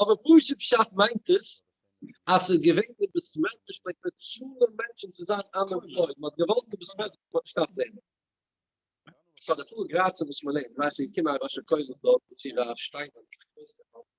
אבער פשוט פשט מיינט עס אז ס'איז געווען די בסמעטריש לייק מיט צאלען מענטשען צו זיין אנעמפלויד, מ'האט געוואלט די בסמעטריש זאל נישט אפלעבן. פאר די פאר גראד צו וואס מ'לעבט, ווייסט איר, געקומען א ראש הקהל דארט, צו רב שטיינמאן,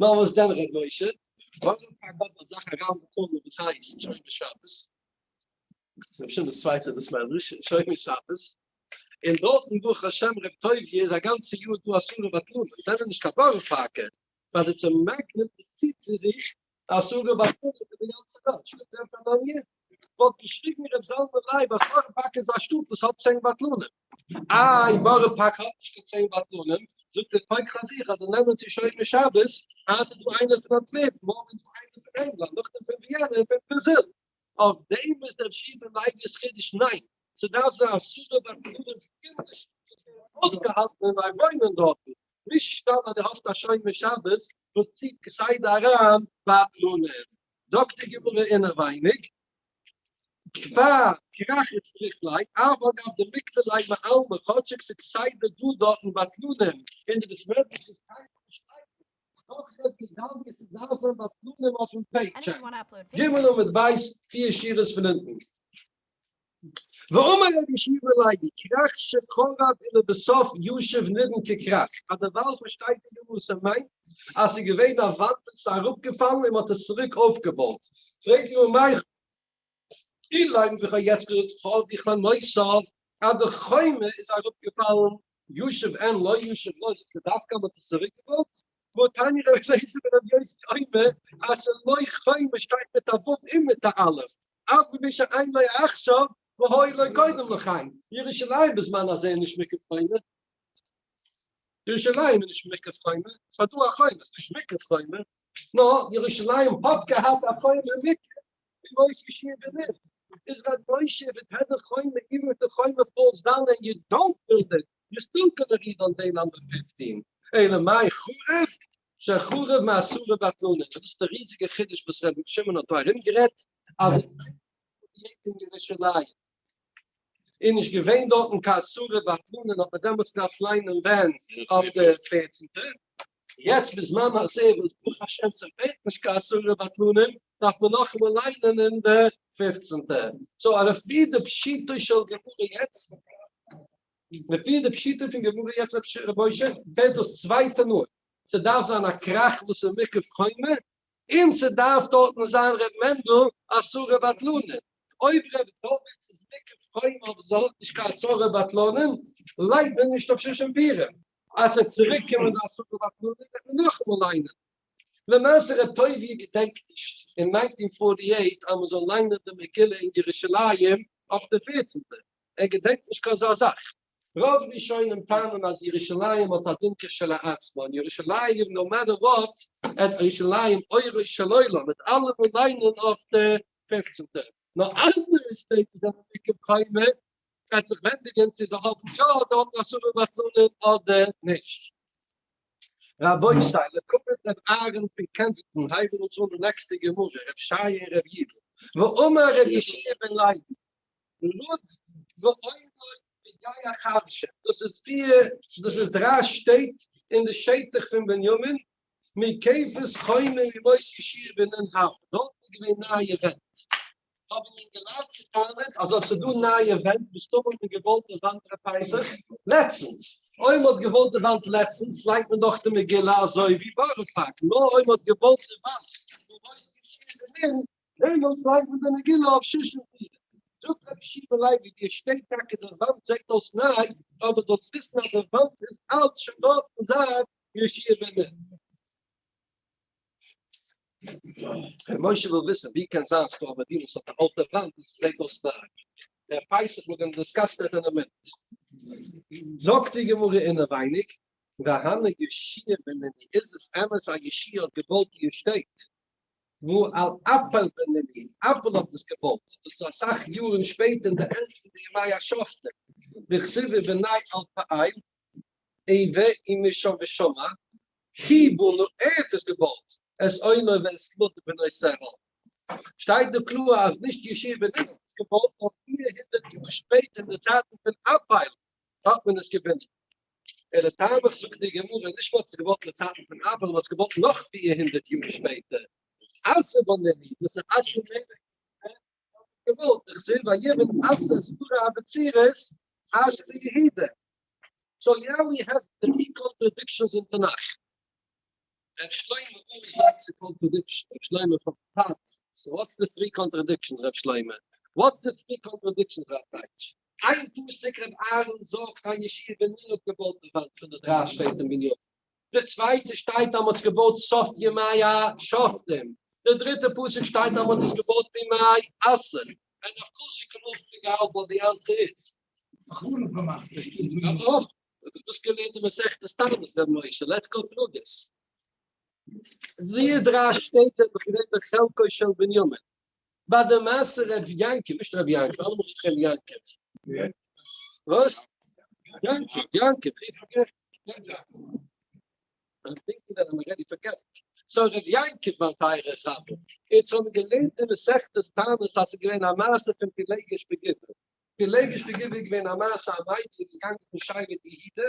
נאר וואס דען ר' משה? ווארום פאר גאט האט זיך אריין באקומען וואס הייסט שומר שבת, ס'איז אפשר דאס צווייטע דאס מדרש, שומר שבת, און דארטן ברוך השם ר' טובי' איז א גאנצע יאר דא אסורי בטלנות, זענען נישט קיין ווארע פארקער, ווייל די צומעקט נעמט עס צו צו זיך די השגה ביי פארנט פון די גאנצע וועלט שטאט ווערט א באנגער, וואלט געשריגן ר' זלמן לייב אז בארא פארק איז א שטאט וואס האט צען בטלנים. איי בארא פארק האט נישט קיין צען בטלנים, זאגט דער פויק פאר זיך אז זיי נעמען צו שומרי שבת, היינט איז דא איינער פון אנטווערפן, מארגן איז דא איינער פון ענגלאנד, נאכדעם פון וויענע און פון ברזיל. אויף דעם איז דער שבעה לייבי'ס חידוש ניין, ס'דארף זיין השגה ביי פארנט פון די גאנצע שטאט וואס ווערט אויסגעהאלטן און זיי וואוינען דארטן. נישט סתם אז דו האסט א שומר שבת וואס ציט כסדר אריין בטלנים. זאגט די גמרא אינערווייניג, כבר כרחץ צריך ליה, אף אגב דמיקרא ליה מעלמא, כאטשיג ס'איז כסדר דא דארטן בטלנים, און די וואס רעדן נישט איז קיינמאל נישט שטייגער, דאך רעדט גדליה ס'דארף זיין בטלנים אויפן פעיטשעק. גמרא ל' בית פֿיר שורות פון אונטן. ואמר רבי שמואל לייבי קרח שחרב ולבסוף ישוב נבן כקרח, אז דערווייל פארשטייט די גמ' וואס ער מיינט, אז ס'איז געווען א וואנט און ס'איז אראפגעפאלן און מ'האט עס צוריק אויפגעבויט, פרעגט די גמ' מאי לן, ווי כ'האב יעצט געזאגט האב איך א נוסח אז די חומה איז אראפגעפאלן ישוב אין לא ישוב לא זיצט דווקא מיט די סורי געוואלט וואו טעני ר' אליעזר בן רבי יוסי אומר אז לא חי מען שטייט מיט א ו' און מיט א א' אף געווען שאין לא עכשיו והוי לא קודם לכן ירושלים בזמן הזה איז נישט מקף חומה ירושלים איז נישט מקף חומה ס'איז דא א חומה ס'איז נישט מקף חומה נא, ירושלים האט געהאט א חומה מיקח ווי מוישע שיער די לופט, איז ר' מוישע וועט העט די חומה איווען וועט די חומה פאלס דאן ענד יו דאנט בילד איט, יו סטיל גאנא ריבאונד דעי נאמבער פיפטין, אלא מאי חרב שחרב מאסורה בטלנא, דאס איז די ריזיגע חידוש וואס ר' שמעון האט דא ארום גערעדט אז עס איז א חומה מיקח אין ירושלים. איז נישט געווען דארטן קיין אסורי בטלנא האט מען דעמאלטס געדארפט ליינען ווען אויף די פערצנטע, יעצט בזמן הזה וואס ברוך השם ס'פעלט נישט קיין אסורי בטלנא דארף מען נאכאמאל ליינען אין די פופצנטע, סאו אר לפי די פשיטא של גמרא יעצט, לפי די פשיטא פון גמרא יעצט ר' משה פעלט דאס צווייטע מאל, ס'דארף זיין א כרך וואס איז מקף חומה און ס'דארף דארטן זיין ר' מענדל עשרה בטלנים, אויב ר' דוד איז מקף חומה אבער זיי האט נישט קיין עשרה בטלנים לייגט מען נישט אויף שושן פירים, אז ס'וועט צוריק קומען די עשרה בטלנים וועט מען נאכאמאל ליינען. למעשה ר' טובי' געדענקט נישט אין נײַנצן פֿאָרטי אײַט אז מ'זאל ליינען די מגילה אין ירושלים אויף די פֿערצנטע, ער געדענקט נישט קיין אזא זאך. רוב ראשונים טענה'ן אז ירושלים האט א דין כשלעצמה, און ירושלים נאו מעטער וואט, עד ירושלים אורו של עולם, וועט אלעמאל ליינען אויף די פופצנטע. נאר אנדערע שטעט וואס זענען עיקר חומה, וועט זיך ווענדיגען צו זיי האבן יא דארטן אסורי בטלנים אדער נישט. רבותי, לקחו דעם אהרן פון קענזינגטאן הייבן אונז אן די נעקסטע גמרא, רב שי און רב יידל, ואמר רב ישעי' בן לוי, לוד ועומר בגיא החרשה, דאס איז פיר, דאס איז דריי שטעט אין די שטח פון בנימין, מקופת חומר ממות ישיר בנין האב, דארט איז געווען נייע ווענט, האבן אינגעלייט געטענה'ט אז אט ס'דא נייע ווענט, מסתמא האט מען געוואלט די וואנט ר' פסח לעצטנס, אויב מ'האט געוואלט די וואנט לעצטנס לייגט מען דאך די מגילה אזוי ווי בארא פארק, נאר אויב מ'האט געוואלט די וואנט ממות ישיר בנין לענין צוויי פון די מגילה אויף שש און זיבן, זאגט רבי שמעון לייב ווי דיר שטייט טאקע דער וואנט זעהט אויס ניי, אבער זאלסט וויסן אז דער וואנט איז אלץ שוין דארט פון זייט ישעי' בן נ'. רבי משה וויל וויסן ווי קען זיין ס'איז דא א מדינה וואס האט א אלטע וואנט און ס'זעהט אויס ניי? דער פסח וואלט מען דיסקאסט עט עני מינוט. זאגט די גמרא אינעווייניג, והנה ישעי' בן נ' איז עס אמת אז ישעי' האט געבויט איר שטעט? וואו על אפיל בנימין אפל האט עס געבויט, דאס איז אסאך יארן שפעטער אין די ענדע פון די ימי השופטים, דכסיבי בני על פעיל עי ו אי משא ושמא כי בנו ער האט עס געבויט, עז עונה ואסתלתא בני סרהון, שטייט דא קלאר אז נישט ישעי' בנימין האט עס געבויט נאר פֿיר הונדערט יאר שפעטער אין די צייטן פון אפיל האט מען עס געבינדן. ער האט טעמ'עך זאגט די גמרא נישט מ'האט עס געוואלט לצאתן פון אבער מ'האט עס געוואלט נאך פֿיר הונדערט יאר שפעטער. אסור בנעמי, דאס איז אסור נעמי, ווען מ'האט עס געוואלט, איך זעה ביי יעדן עשה סברה אבצירות חש ביהודה. סאו יער ווי העוו טרי קאנטרעדיקשאנס אין תנך. ר' שלמה אורי זאגט ס'איז קאנטרעדיקשאן, ר' שלמה פון פת, סאו וואטס די טרי קאנטרעדיקשאנס ר' שלמה? וואטס די טרי קאנטרעדיקשאנס ר' טייטש? איין פסוק ר' אהרן זאגט א ישיבה בנין האט געבויט די וואנט פון די דריי שטעט אין בניו, די צווייטע שטייט אז מען האט עס געבויט סוף ימי השופטים, די דריטע פסוק שטייט אז מען האט עס געבויט בימי אסר, און אויף כל שכן אויך פון געהאלט וואס די אנטער איז. חרוב געמאכט די שטאט. אה אויף דאס געלערנט אין מסכת תענית ר' משה, לעטס גאו טרו דיס. די דריי שטעט זענען בחינת בחלקו של בנימין, ביי די מעשה ר' יענקל, נישט רבי יענקל, אלעמאל רופט איך אים יענקל. וואס? יענקל, יענקל, איך פארגעס. איך דענק מיר אז מיר רעדן פון געלט. סא ר' יענקל מיין טייערער חבר, אונז האבן געלערנט אין מסכת טענות אז ס'איז געווען א מעשה פון פילעגש בגבעה. פילעגש בגבעה איז געווען א מעשה א מיידל איז געגאנגען צו שיירת יהודה,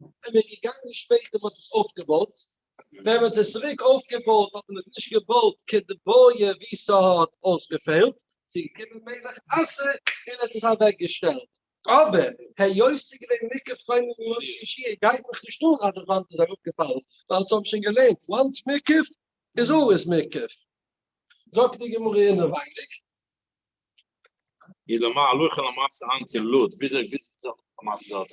און מען איז געגאנגען שפעטער און מען האט עס אויפגעבויט, ווען מען האט עס צוריק אויפגעבויט האט מען עס נישט געבויט כדבעי ווי ס'האט אויסגעפעלט, ס'געקומען מלך אסור און האט עס אוועקגעשטעלט, אבער היות ס'איז געווען מקח חומה מראש ישיר גייט מיך נישט אן אז די וואנט איז אראפגעפאלן, ווייל אונז האבן שוין געלערנט once מקח איז אלוועיס מקח. זאגט די גמרא אינעווייניג. איז למאי הלכה למעשה היינט אין לוד וויאזוי וויסט מען זיך למעשה דארט?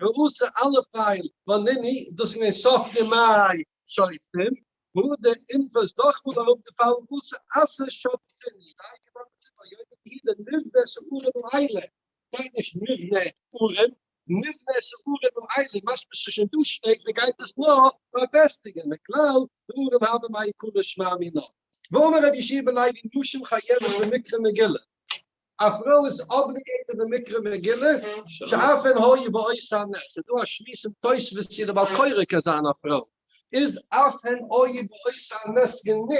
געוואוסע אלע פייל בנני איז דאס אין די סוף ימיי שופטים וואו די אינפא איז נאכמאל אראפ געפאלן וואס עשה שופטים די הייליגע באבע זי ע ביום די די נבנה סעורים לילה שטייט נישט נבנה אורים נבנה סעורים לילה משמע ס'שוין דא שטעט מ'גייט עס נאר פארפעסטיגען מכלל דברים הבא מה יקרה שמע מינה ואמר רבי ישעי' בלייב אין נשים חייבת במקרא מגילה. א פרוי איז אבליגעיטעד אין מקרא מגילה שאפען הא י באות א נ, ס'איז דא א שמועס אין תוספות צו די בעל קורא קען זיין א פרוי, איז אפען הא י באות א נ גענוג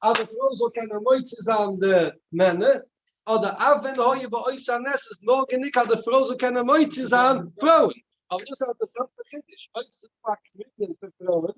אז די פרוי זאל קענען מוציא זיין די מענער, אדער אפען הא י באות א נ איז נאר גענוג אז די פרוי זאל קענען מוציא זיין פרויען, אבער דאס איז א אינטערעסאנטע חידוש, אויב איז דא א קוויטעל פון פרויען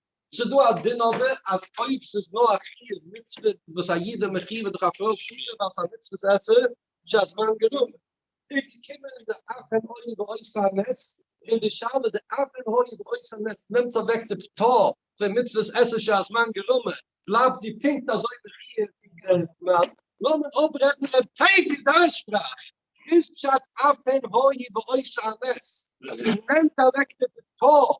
ס'איז דא א דין אבער אז אויב ס'איז נאר א חיוב מצוה וואס א איד איז מחוייב דורך א פרוי ששה ווייל ס'איז א מצוות עשה שהזמן גרמא איז געקומען און די אבן הואי ועושה הנס און די שאלה די אבן הואי ועושה הנס נעמט אוועק די פטור פון מצוות עשה שהזמן גרמא בלייבט זי פונקט אזוי מחוייב ווי דער מאן. לאמיר אפרעדן ר' טייב'ס דיין שפראך איז פשט אבן הואי ועושה הנס נעמט אוועק די פטור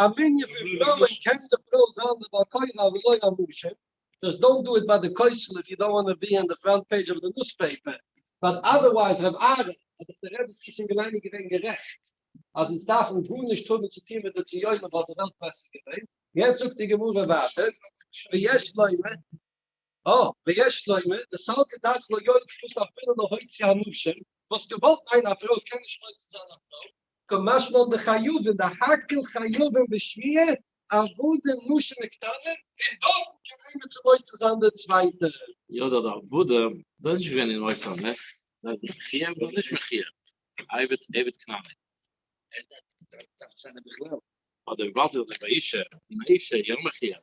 א מנין פון פרויען קען די פרוי זיין די בעל קורא ולא המושל. דזשאסט דאנט דו איט ביי די כותל איף יו דאנט וואנט טו בי אן די פראנט פעידזש אוו די ניוספעיפער. באט אדערווייז ר' אהרן האט דאך די רבי זקן געווען גערעכט אז אונז דארפן גארנישט האבן צו טון מיט די ציונים וואלט די וועלט בעסער געווען. יעצט זאגט די גמרא ווייטער ויש לומר. א. ויש לומר, די סלקא דארף לא יועיל כלום אפילו להוציא הנשים, וואס געוואלט מיינען א פרוי קען נישט מוציא זיין א פרוי, כמשמע די חיובים דהאקעל חיובים בשמיעה עבודה נשים מקטנה, און דארפן קען איינער צו מוציא זיין די צווייטע. יא די עבודה זיי נישט געווען אין מוסר נס, זיי זענען מחוייב אדער נישט מחוייב, עבד עבד כנעני. ער דארף נישט זיין א בכלל. אדער וויבאלד זי איז דאך א אישה, און א אישה יא מחוייב.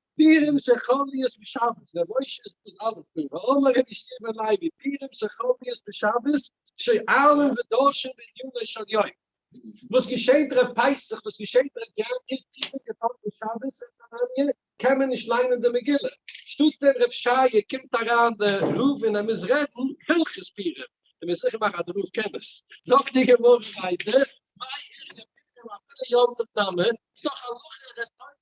פירעם של חביות בשבת, ר' משה איז דאס אלעס דא, ואמר רבי שמעון לייבי, פירעם של חביות בשבת, שואלים ודורשים בעניני של יום, וואס געשעהט ערב פסח, וואס געשעהט ערב יום טוב, איז פירעם געפאלן אום שבת, זעהט א מניה, קען מען נישט ליינען די מגילה, שטאט דעם רב שייע קומט אריין דער רב און ער מוז רעדן הלכות פירעם, ער מוז זיכער מאכן אז דער רב קען עס, זאגט די גמרא ווייטער, מאי עריה פירעם אפילו יום טוב נאמן, ס'דאך הלכה ערב יום טוב.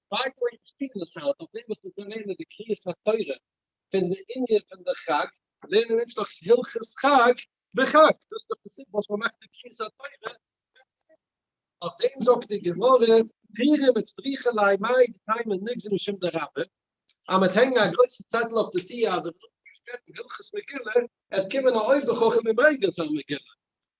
ביי גוי איז פיל לשהר דורך דעם וואס מ'קען לערנען די קריאת התורה פון די ענין פון די חג, לערנען אונז דאך הלכות חג בחג, דאס איז דאך די סיבה וואס מ'מאכט די קריאת התורה פון פריער, אויף דעם זאגט די גמרא, פירים מיט סטריכע ליי מאי דתימן נגזי משום דרבה, אז מ'וועט הענגן א גרויסע צעטל אויף די טיר אז דער רבי האט געשטערט אין הלכות מגילה, עט קומען א אויבער חכם און ברענגען זיין מגילה.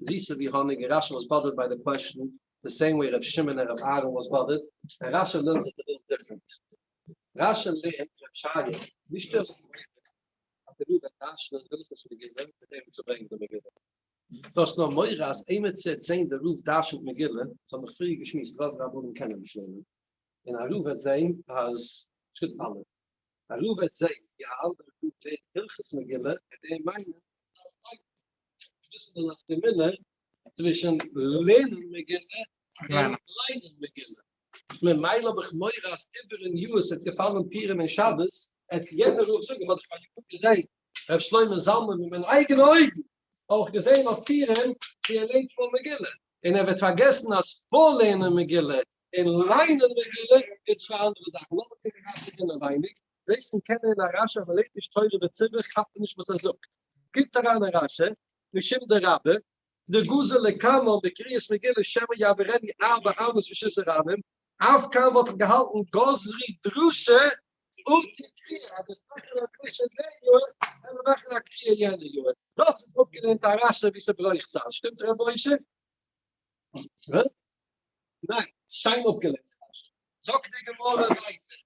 זיסער ווי האניג און רשע וואס באדערט ביי די קוועשן די סעים וועי ר' שמעון און ר' אהרן וואס באדערט און רשע לערנט זיך די וועלט דיפרענט רשע לערנט ר' שרגא ווי שטערסטו מיך אז דער רבי האט רשע וויל איך עס מגילה מיט אים צו ברענגען די מגילה דו האסט נאר מורא אז איינער צו זעהן דער רב דרש'נט מגילה עס האט מיך פריער געשמועסט רוב רבנים קענען נישט לערנען און א רב וועט זעהן אז שטופ אלע. הרב עטס זענט יא אנדערע פון די הלכות מגילה און די מיינען אז ביידע וויסן די נפקא מינה צווישן לערנען מגילה און ליינען מגילה ממילא האב איך מורא אז איבערן יאר עס וועט געפאלן פורים און שבת עט יעדער רב זאגן האט דאך מיין יאר געזען ר' שלמה זלמן מיט מיינע אייגענע אויגן אויך געזען אויף פורים ווי ער לערנט פאר מגילה און ער וועט פארגעסן אז פאר לערנען מגילה אין ליין האבן מיר געלערנט די צוויי אנדערע זאכן, לאמיר קוקן אינגאנצן אינעווייניג, זעהסט פון קענען אין א רשי אז מען לערנט נישט תורה בציבור כאפט מען נישט וואס ער זאגט, קוקטס אריין אין רשי, משום דרבה, דגוזר לקמא בקריאת מגילה שמא יעבירני ארבע אמות ושסה רבים, אויף קמא וואלט איך געהאלטן גוזרי דרשו אותי קריאה, אז דאס מאכן א דרשו די יאר, קען מען מאכן א קריאה יענע יאר. דאס איז אפגעלערנט א רשי ווי ס'ברויך זיין, שטימט רבושע? ניין, שיין אפגעלערנט. זאגט די גמרא ווייטער,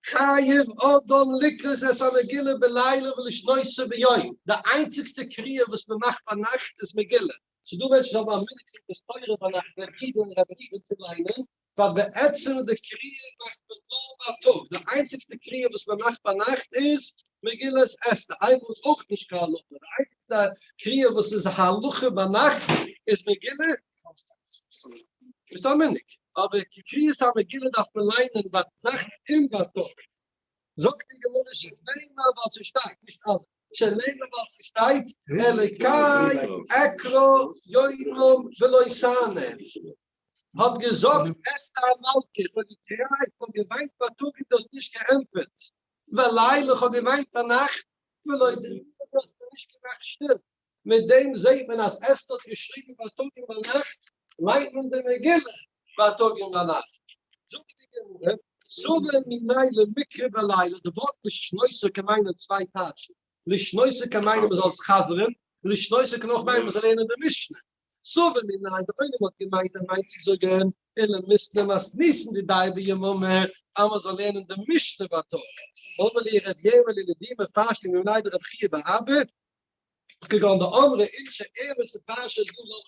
חייב אדם לקרות את המגילה בלילה ולשנותה ביום, די איינציגסטע קריאה וואס מען מאכט ביינאכט איז מגילה, ס'דא מענטשן וואס האבן א מנהג סידור תורה ביינאכט, רעב אידן און רעב ראובן צו ליינען, ווייל בעצם די קריאה מאכט מען נאר בייטאג, די איינציגסטע קריאה וואס מען מאכט ביינאכט איז מגילת אסתר, אייוועלט איז אויך נישט קיין הלכה, די איינציגסטע קריאה וואס איז א הלכה ביינאכט איז מגילת אסתר, ביסט א מנהיג, אבער קריאת המגילה דארף מען ליינען ביינאכט און בייטאג, זאגט די גמרא שנאמר ווייל ס'שטייט, נישט אלע, שנאמר ווייל ס'שטייט אלקי אקרא יומם ולא סאמר, האט געזאגט אסתר המלכה, איך האב געקרייט און געוויינט בייטאג און דו האסט נישט געענטפערט, בלילה איך האב געוויינט ביינאכט ולא דערנאך האסטו נישט געמאכט שטיל, מיט דעם זעהט מען אז אסתר האט געשריגן בייטאג און ביינאכט, ליינט מען די מגילה בייטאג און ביינאכט, זאגט די גמרא, סובר ממילא מקרא בלילה, די ווארט לשנותו קען מיינען צוויי טייטשן, לשנותו קען מיינען מען זאל עס חזר'ן, לשנותו קען אויך מיינען מען זאל לערנען די משנה, סובר מנין די עולם האט געמיינט ער מיינט צו זאגען אלא מסתם אז ניסן די דיי ביממה אז מען זאל לערנען די משנה בייטאג, אמר לי ר' יערמעלע לידי מפרשים מנין דרבי חייא בר אבא, כגון דאמרי אין שאר ערבות שפרשה דא זאל מען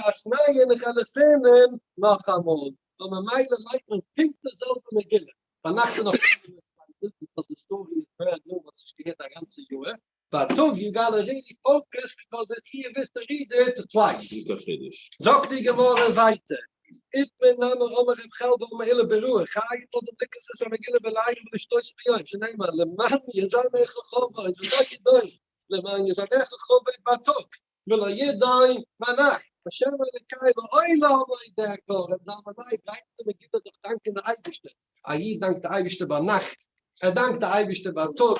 עס לערנען איינמאל ואת נייע נחל עס לערנען נאכאמאל, נו ממילא לייגט מען פונקט די זעלבע מגילה, ביינאכט איז נאך קיינער נישט פארטיג, די סטארי איז ברענד ניו מ'האט עס נישט געהערט א גאנצע יאהר. באטאג יו גאלא רי פאוקעס ביקאוז איט הי וויסט טו ריעד איט טווייס. נישט קיין חידוש. זאגט די גמרא ווייטער, איט מי נאמר אמר רב חלב אמר אילו ברוח חיים וואלט דער בליק געזעצט א מגילה בלילה ולשתות ביום שנאמר למען יזעמך חובות ולא ידעו למען יזעמך חובות באטאג ולא ידעו ביינאכט השם אלקי לעולם לא ידע כל רבי זלמן לייב לייענט די מגילה דורך דאנקען די אייבערשטער, א איד דאנקט די אייבערשטער ביינאכט, ער דאנקט די אייבערשטער בייטאג,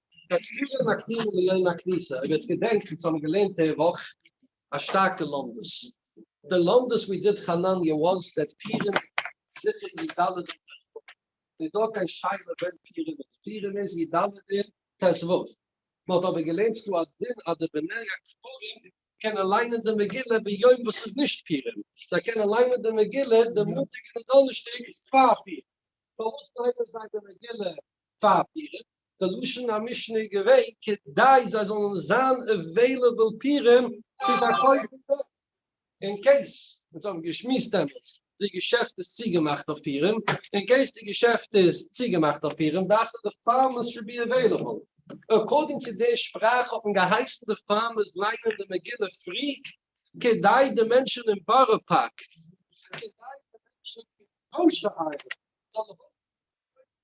די תפילה מקדימים ליום הכניסה, אויב איר געדענקט אונז האבן געלערנט די וואך א שטארקע לומדות, די לומדות ווי דיד חנניה וואס דעט פירים זיכער י ד אדר ט ו, נישט דא קיין שאלה ווען פירים איז, פירים איז י ד אדר ט ו, מען האט אבער געלערנט ס'דא א דין אז די בני הכפרים קענען ליינען די מגילה ביום וואס ס'איז נישט פירים, זיי קענען ליינען די מגילה די מאנטאג און די דאנערשטאג פאר פירים, פארוואס ליינען זיי די מגילה פאר פירים? די לשון המשנה איז געווען כדי זיי זאלן זיין עוועילעבל פירעם צו פארקויפן דארט אין קעיס אונז האבן געשמועסט דעמאלטס די געשעפט איז צוגעמאכט אויף פירעם אין קעיס די געשעפט איז צוגעמאכט אויף פירעם דארפסטו די פארמעסט טו בי עוועילעבל עקארדינג צו די שפראך האט מען געהייסן די פארמעסט ליינען די מגילה פרי כדי די מענטשן אין בארא פארק כדי די מענטשן אין ראשע העין זאלן האבן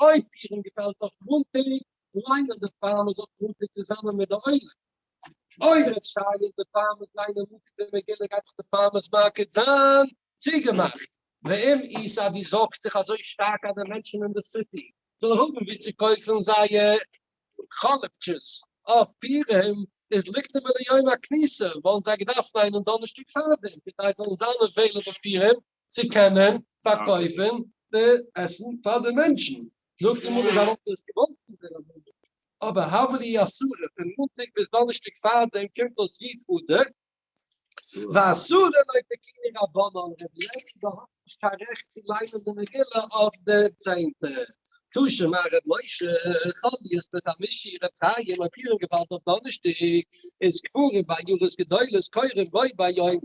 אויב איהם געפעלט אויף מאנטאג, ליינט ער די פארמעסט אויף מאנטאג צוזאמען מיט די עולם. אויב רעדט שי איז די פארמעסט ליינען מאנטאג די מגילה גייט דאך די פארמעסט מארקעט זיין צוגעמאכט. ואם איז אז דו זארגסט דיך אזוי שטארק אז די מענטשן אין די סיטי זאלן האבן ווי צו קויפן זייער חאלעפטשעס אויף פורים איז לקדמה ליום הכניסה וואלן זיי געדארפט ליינען דאנערשטאג פארדעם כדי זאלן זיין עוועילעבל פורים צו קענען פארקויפן די עסן פאר די מענטשן, זאגט די מגיד אז וואלט ער עס געוואלט פון דער רבנות, אבער הבל היא אסורה, פון מאנטאג ביז דאנערשטאג פארדעם קומט אויס י ט אדר, ואסורה לויט די קני רבנן, רבי לייב ב ה האט נישט קיין רעכט צו ליינען די מגילה אויף די צענטע טאשן, מר ר' משה חביב בן ר' משי ר' חיים האט איהם געווארט אויף דאנערשטאג, איז קברים ביי יארות גדולות קורים בו ביום.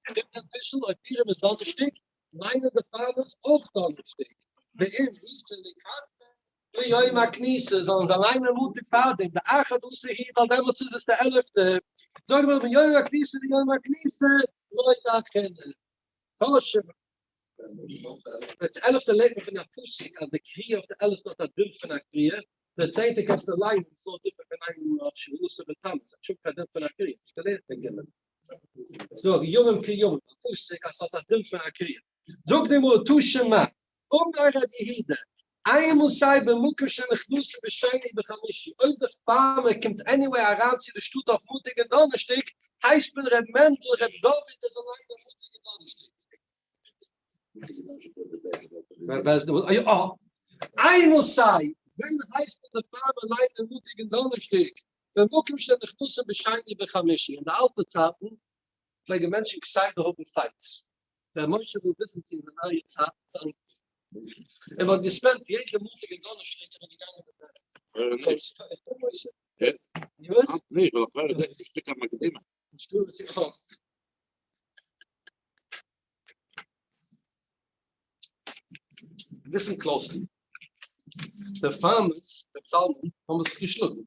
שטימט אביסל אויב פורים איז דאנערשטאג, מיינען די פארמערס אויך דאנערשטאג, ואם איסר לקטן ביום הכניסה זאלן זיי ליינען מאנטאג פארדעם, דאחד עשר היא ווייל דעמאלטס איז עס די עלעפטע, זאג נאר ביום הכניסה ביום הכניסה לא ידעכן קשה. די עלעפטע לערנט מען פון א פסוק אז די קריעה אויף די עלעפטע האט א דין פון א קריעה, די צענטע קענסטו ליינען, עס איז נאר דיפערענט פון איין יאר אויף שביעי אסור בתמוז, האט שוין קיין דין פון א קריעה, האסט געלערנט אין גמ'. זאג, ימים כימים, א פסוק אז ס'האט א דין פון א קריעה. זאגט די גמרא, תשע מ, אמר ר' יהודה, איינמאל סיי במקום שנכנסים בשני וחמישי, אויב די פארמער קומט עניוועי אריין צו די שטאט אויף מאנטאג און דאנערשטאג, הייסט מען ר' מענדל, ר' דוד, ער זאל ליינען מאנטאג און דאנערשטאג. איינמאל סיי ווען הייסט מען די פארמער ליינען מאנטאג און דאנערשטאג? במקום שנכנסים בשני ובחמישי, אין די אלטע צייטן פלעגן מענטשן כסדר האבן פייטס, ר' משה וויל וויסן צו אין די נייע צייטן איז אנדערש, און מען האט געספענדט יעדע מאנטאג און דאנערשטאג איז מען געגאנגען מיט די. ליסן קלאזלי, די פארמערס, די פסאלמען, האבן זיך געשלאגן.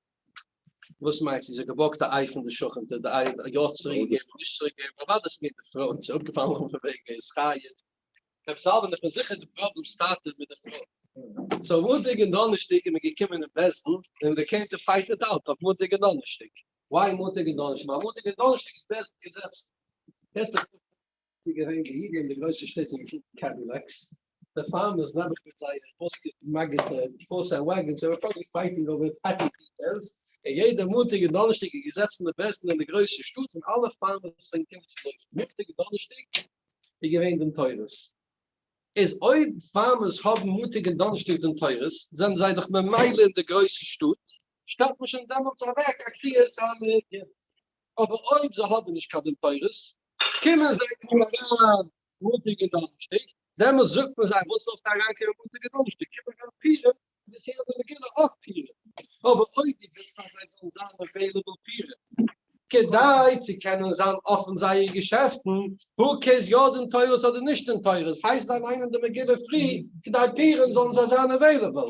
וואס מיינסטו, זי האט געבארגט א איי פון די שכנ'טע, די איי האט יא צוריקגעגעבן אדער נישט צוריקגעגעבן, אוודאי דאס מיינט די פרוי, זי איז אפגעפאלן אויפן וועג, ער איז חי יעצט. רבי זלמן, איך בין זיכער די פראבלעם סטארט איז מיט די פרוי. סאו מאנטאג און דאנערשטאג איז מען געקומען אין בית דין און דער קענטער פייט איט אוט אויף מאנטאג און דאנערשטאג. וויי מאנטאג און דאנערשטאג, ווייל מאנטאג און דאנערשטאג איז בעסט געזעצט, קענסט דיך דורכרעדן, ס'איז געווען געהעריג אין די גרויסע שטעט און געקוקט קעדילעקס, די פארמערס נעבעך מיט זייערע אויסגעמאגערטע הארס ענד וואגענס און רעפאבליק פייטינג אווער פעטי פיטעלס, און יעדע מאנטאג און דאנערשטאג איז געזעצן די בעסטן אין די גרויסע שטאט און אלע פארמערס זענען געקומען צו לויפן, מאנטאג און דאנערשטאג איז געווען דעם תורה'ס, איז אויב פארמערס האבן מאנטאג און דאנערשטאג דעם תורה'ס זענען זיי דאך ממילא אין די גרויסע שטאט, שטעלט מען שוין דעמאלטס אוועק א קביעות א מנין, אבער אויב זיי האבן נישט קיין דין תורות, קומען זיי קוים אריין מאנטאג און דאנערשטאג, דעמאלטס זאגט מען זיי וואס זאלסטו אריין קומען מאנטאג און דאנערשטאג, קום אריין פורים, די סעודה רגילה אויף פורים, אבער אויב דו ווילסט אז זיי זאלן זיין עוועילעבל פורים, כדי צו קענען זיין אפן זייערע געשעפטן, הו קעירס יא דין תורות אדער נישט דין תורות, הייסט זיי ליינען די מגילה פרי כדי פורים זאלן זיי זיין עוועילעבל.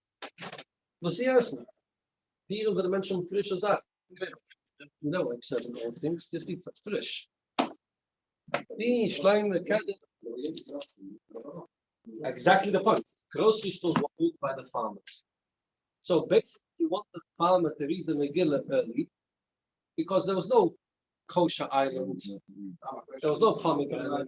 וואס צו עסן, ביערן זענען מענטשן פרישע זאכן, נאו עקסעפט און אלל טינגס דאס איז פריש, די שלימער קענען, עקזעקטלי די פוינט, גראסערי סטארס ווערן געפירט ביי די פארמערס, סאו בעיסיקלי יו וואנט די פארמער טו ריעד די מגילה ערלי, ביקאויז דער איז נאו קאושער איילענד, דער איז נאו פאמעגרענעט.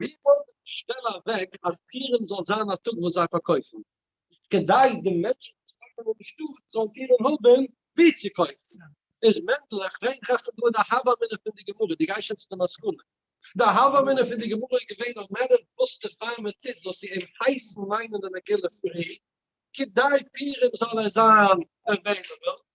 ווי ווייט איז די שטעלע אוועק אז פורים זאל זיין א טאג וואס זיי פארקויפן כדי די מענטשן וואס וואוינען אין די שטאט זאלן קענען האבן ווי צו קויפן? איז מענדל, איך פרעג דיך אפילו דא די הוה אמינא פון די גמרא, דו גייסט שוין צו די מסקנא. די הוה אמינא פון די גמרא איז געווען אז מענער וואוסטע פאר מען טוט זאלסטו אים הייסן ליינען די מגילה פרי כדי פורים זאל ער זיין עוועילעבל,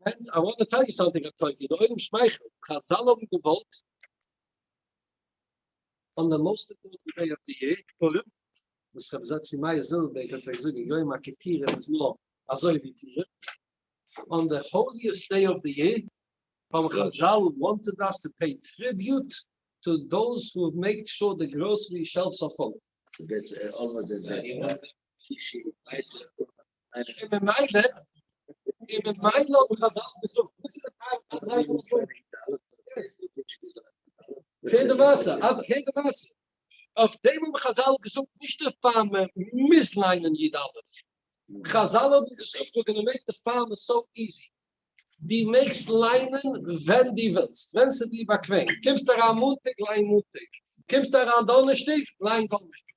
ווען א ראדע טייג איז האלטיג א טויג איז די אויגן שמייכעל, חזל האבן געוואלט אן די מאסט אימפארטענט דעי אוו די יער, פורים, וואס רבי זצ ל מאיר זילבערבערג האט פלעגט זאגן יום הכפירה איז נאר אזוי ווי פורים, אן די האליעסט דעי אוו די יער, האבן חזל וואנטעד אס טו פעי טריביוט טו דאוז הו מעיק שור די גראסערי שעלפס אר פול. שישי ווייסער און ממילא אין די מיינע האב איך אזאלעך געזאגט וואס איז די פארק פון דריי הונדערט פֿיר און פֿערציק כעין די וואסער אז כעין די וואסער אויף דעם האבן חזל געזאגט נישט דער פאר מען מוז ליינען יד אלף חזל האבן געזאגט ווען מען מעקט די פאר מען סאו איזי די מעגסט ליינען ווען די ווילסט ווען ס'איז דיר באקוועם קומסט אריין מאנטאג ליין מאנטאג קומסט אריין דאנערשטאג ליין דאנערשטאג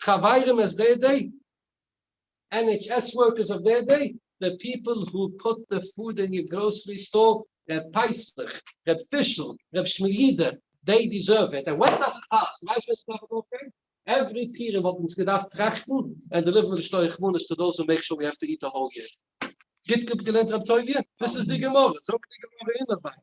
חברים עס דעי דעי, NHS ווארקערס אוו דעי דעי, די פיפעל הו פוט די פוד אין יור גראסערי סטאר, ר' פסח, ר' פישל, ר' שמילידער, דעי דיזערוו איט, ענד ווען דאס איז פאר, ס'איז נייס ווען ס'דארף ארויפגיין, עווערי פירער וואלט אונז געדארפט טראכטן ענד דעליווערן די שטוי רחמנות טו דאוז הו מעיק שור ווי העוו טו איט א האול יער. גוט געלערנט רב טוביה, דאס איז די גמרא, זאגט די גמרא אין רבינו.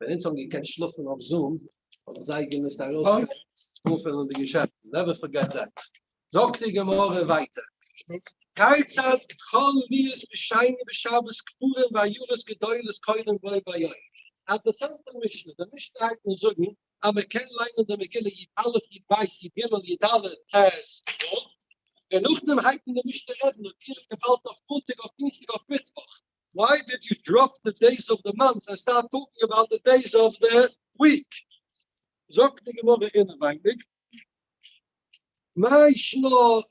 ווען אונז האבן געקענט שלאפן אויף זום האט מען זייער געמוזט ארויסגיין אנפילן די געשעפטן, נעווער פארגעט דעט. זאגט די גמרא ווייטער, כיצד כל מיעוט משיינים בשבת כפורים ועיירות גדולות קונים בו ביום, אז די זעלבע משנה, די משנה הייבט אן זאגן אז מען קען ליינען די מגילה יט א' יט ב' יט ג' יט ד' ט' ו', און נאכדעם הייבט אן די משנה רעדן אויב יענער געפאלט אויף מאנטאג אויף דינסטאג אויף מיטוואך, וויי דיד יו דראפ די דעיס אוו די מאנט און סטארט טאלקינג אבאוט די דעיס אוו די וויק? זאגט די גמרא אינעווייניג, מאי שנא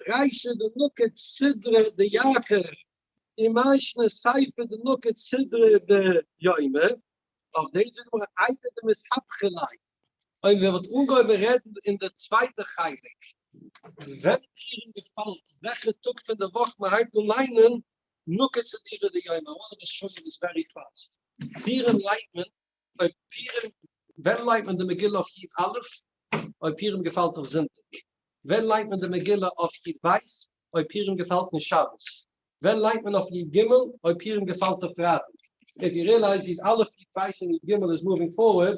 ריישא דנוקד סדרא דיכר און מאי שנא סייפא דנוקד סדרא דיומא, אויף דעם זאגט די גמרא איידער די מסתבכי ליה, אויב איר וואלט אנגעהויבן רעדן אין די צווייטע חלק וועלכע יאר און געפאלן וועלכע טאג פון די וואך מען הייבט אן ליינען, נוקד צו דירה ויומא, אן אדער שוין איז ווערי פאסט. פירים לייגט מען אויף פירים. ווען לייגט מען די מגילה אויף יוט א' אויב פירים געפאלט אויף זונטאג? ווען לייגט מען די מגילה אויף יוט ב' אויב פירים געפאלט אין שבת? ווען לייגט מען אויף יוט ג' אויב פירים געפאלט אויף פרייטאג? איף יו רילייז יוט א' יוט ב' און יוט ג' איז מאווינג פארווערד,